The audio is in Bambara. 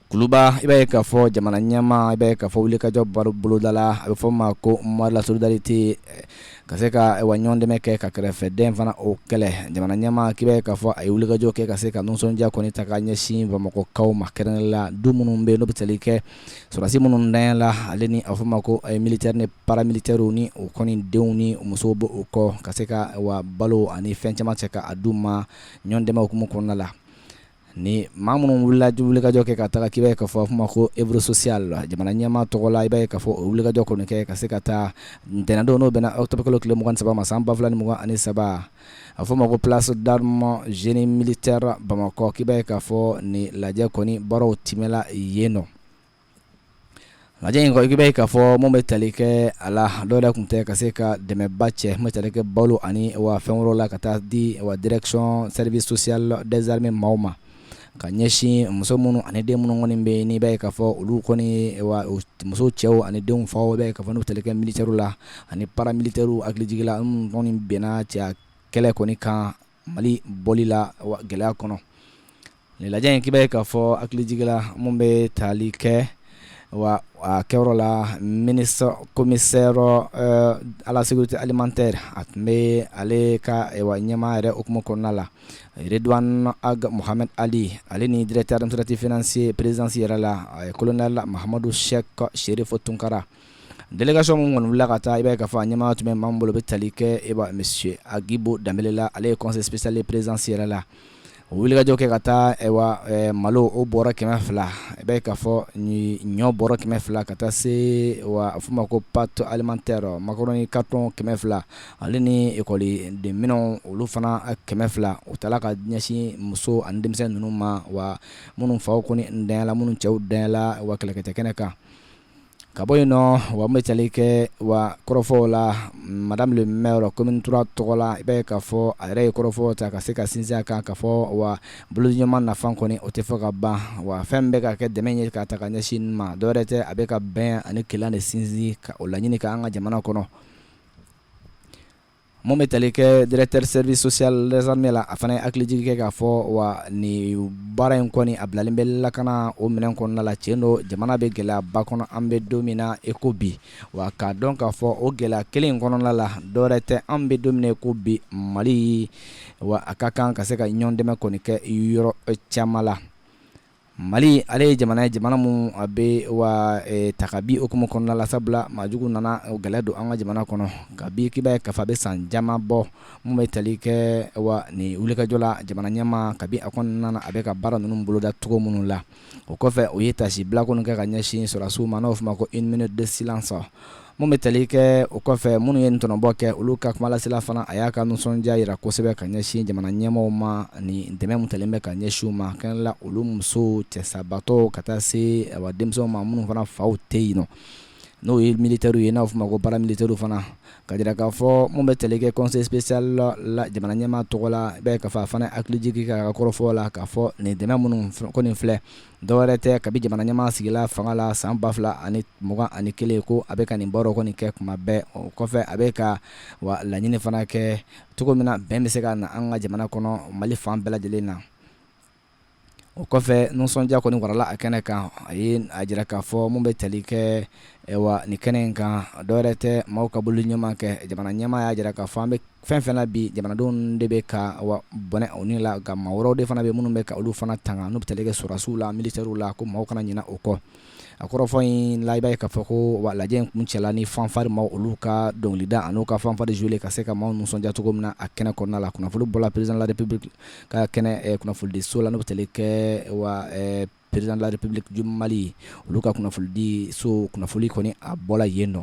Kuluba i b'a ye k'a fɔ jamana ɲɛmaa i b'a ye k'a fɔ wulikajɔ baro bolodala a bɛ fɔ o ma ko mois de la solidarité ka se ka wa ɲɔgɔn dɛmɛ kɛ ka kɛrɛfɛdɛn fana o kɛlɛ jamana ɲɛmaa k'i b'a ye k'a fɔ a ye wulikajɔ kɛ ka se ka nisɔndiya kɔni ta ka ɲɛsin Bamakɔkaw ma kɛrɛnkɛrɛnnenya la du minnu bɛ yen n'o bɛ tali kɛ sɔrɔdasi minnu ntanyala ale ni a bɛ fɔ o ma ko militaires ni paramilitaires ni u kɔni denw ni u musow bɛ o kɔ ka se ka wa balo ani fɛn caman cɛ ka a d'u ma ɲɔgɔn dɛmɛ hukumu kɔnɔna la ni maa minnu wulila wulikajɔ kɛ ka taga k'i b'a ye k'a fɔ a bɛ fɔ o ma ko œuvre sociale la jamana ɲɛmaa tɔgɔ la i b'a ye k'a fɔ o wulikajɔ kɔni kɛ ka se ka taa ntɛnɛndon n'o bɛnna octobre kalo tile mugan ni saba ma san ba fila ni mugan ani saba a fɔ ma ko place d'armes génie militaire Bamakɔ k'i b'a ye k'a fɔ nin lajɛ kɔni baaraw timɛla yen nɔ lajɛ in kɔni k'i b'a ye k'a fɔ mun bɛ tali kɛ a la dɔwɛrɛ tun tɛ ka se ka dɛmɛba cɛ mun bɛ tali kɛ balo ani wa fɛn wɛrɛw la ka taa di wa direction service social des armées maaw ma ka ɲɛsin muso minnu ani den minnu kɔni bɛ n'i b'a ye k'a fɔ olu kɔni muso cɛw ani denw faw b'a ye k'a fɔ n'o tali kɛ militaires la ani paramilitaires hakilijigin la minnu kɔni binna cɛya kɛlɛ kɔni kan Mali bɔli la gɛlɛya kɔnɔ nin lajɛ in k'i b'a ye k'a fɔ hakilijigin la mun bɛ tali kɛ wa a kɛyɔrɔ la ministre commissaire à la sécurité alimentaire a tun bɛ ale ka ɲɛmaa yɛrɛ hukumu kɔnɔna la yɛrɛd a muhami ali ale ni dɛrɛtarɛtaratifinɛsi prezsi yɛrɛ la a ye kolonda la mahamadu sɛ ka seere fɔ tunkarara delikasi minnu kɔni wulila ka taa i b'a ka fɔ a ɲɛmaa tun bɛ manan bolo bɛ tali kɛ e bɛ misi akibo dala ale ye kɔnsepisali prezsi yɛrɛ la o wulikajɔ kɛ ka taa malo o bɔra kɛmɛ fila i bɛ ka fɔ ɲɔ bɔra kɛmɛ fila ka taa se f ma ko pato alilimate makɔrɔn ka tɔn kɛmɛ fila ale ni ekɔliden minɛnw olu fana kɛmɛ fila o tala ka ɲɛsin muso ani denmisɛnnin ninnu ma wa minnu faw kɔni ntanyala minnu cɛw ntanyala wa kɛlɛkɛtɛ kɛnɛ kan ka bɔ yen nɔ wa bɛ tali kɛ wa kɔrɔfɔw la madame le maire commune trois tɔgɔ la i b'a ye k'a fɔ a yɛrɛ ye kɔrɔfɔw ta ka se ka sinsin a kan k'a fɔ wa bolodiɲɔgɔnma nafa kɔni o tɛ fɔ ka ban wa fɛn bɛ ka kɛ dɛmɛ ye ka ta ka ɲɛsin ma dɔwɛrɛ tɛ a bɛ ka bɛn ani kelenya de sinsin ka o laɲini ka an ka jamana kɔnɔ Mun bɛ tali kɛ directeur du service social des armées la a fana ye hakilijigin kɛ k'a fɔ wa ni baara in kɔni a bilalen bɛ lakana o minɛn kɔnɔna la tiɲɛ don jamana bɛ gɛlɛyaba kɔnɔ an bɛ don min na i ko bi wa k'a dɔn k'a fɔ o gɛlɛya kelen in kɔnɔna la dɔwɛrɛ tɛ an bɛ don min na i ko bi Mali wa a ka kan ka se ka ɲɔgɔn dɛmɛ kɔni kɛ yɔrɔ caman la Mali ale ye jamana ye jamana min a bɛ wa ta kabi o hukumu kɔnɔna la sabula maa jugu nana gɛlɛya don an ka jamana kɔnɔ kabi k'i b'a ye k'a fɔ a bɛ san caman bɔ min bɛ tali kɛ wa ni wulikajɔ la jamana ɲɛmaa kabi a kɔnɔna na a bɛ ka baara ninnu boloda cogo minnu la o kɔfɛ u ye taasibila kɔni kɛ ka ɲɛsin sɔrɔdasiw ma n'o bɛ fɔ ma ko une minute de silence min bɛ tali kɛ o kɔfɛ minnu ye ntɔnɔbɔ kɛ olu ka kumalasela fana a y'a ka nisɔndiya jira kosɛbɛ ka ɲɛsin jamana ɲɛmaaw ma ni dɛmɛ min talen bɛ ka ɲɛsin u ma kɛrɛnla olu musow cɛsabaatɔw ka taa se a denmisɛnw ma minnu fana faw tɛ yen nɔ n'o ye militaires ye n'a bɛ fɔ ma ko paramilitaires fana ka jira k'a fɔ min bɛ tali kɛ conseil spécial la jamana ɲɛmaa tɔgɔ la i b'a ye k'a fɔ a fana hakilijigi ka kɔrɔfɔ la k'a fɔ nin dɛmɛ minnu kɔni filɛ Dɔwɛrɛ tɛ kabi jamana ɲɛmaa sigila fanga la san 2000 ani 20 ani kelen ko a bɛ ka nin baara kɔni kɛ kuma bɛɛ o kɔfɛ a bɛ ka wa laɲini fana kɛ cogo min na bɛn bɛ se ka na an ka jamana kɔnɔ mali fan bɛɛ lajɛlen na o kɔfɛ nisɔndiya kɔni warala a kɛnɛ kan a ye a jira k'a fɔ min bɛ tali kɛ Wa nin kɛnɛ in kan dɔwɛrɛ tɛ maaw ka bolo ɲɛma kɛ jamana ɲɛmaa y'a jira k'a fɔ an bɛ fɛn fɛn na bi jamanadenw de bɛ ka bɔnɛ u ni la ka maa wɛrɛw de fana bɛ minnu bɛ ka olu fana tanga n'u bɛ tali kɛ sɔrɔdasiw la militaires la ko maaw kana ɲinɛ o kɔ a kɔrɔfɔ in la i b'a ye k'a fɔ ko wa lajɛ in kuncɛla ni fanfare maaw olu ka dɔnkilida an'u ka fanfare jouer ka se ka maaw nisɔndiya cogo min na a kɛnɛ kɔnɔna la kunnafoni bɔra président de la république ka kɛnɛ kunnafonidiso la n'o bɛ tali kɛ président de la république du Mali olu ka kunnafonidiso kunnafoni kɔni a bɔra yen nɔ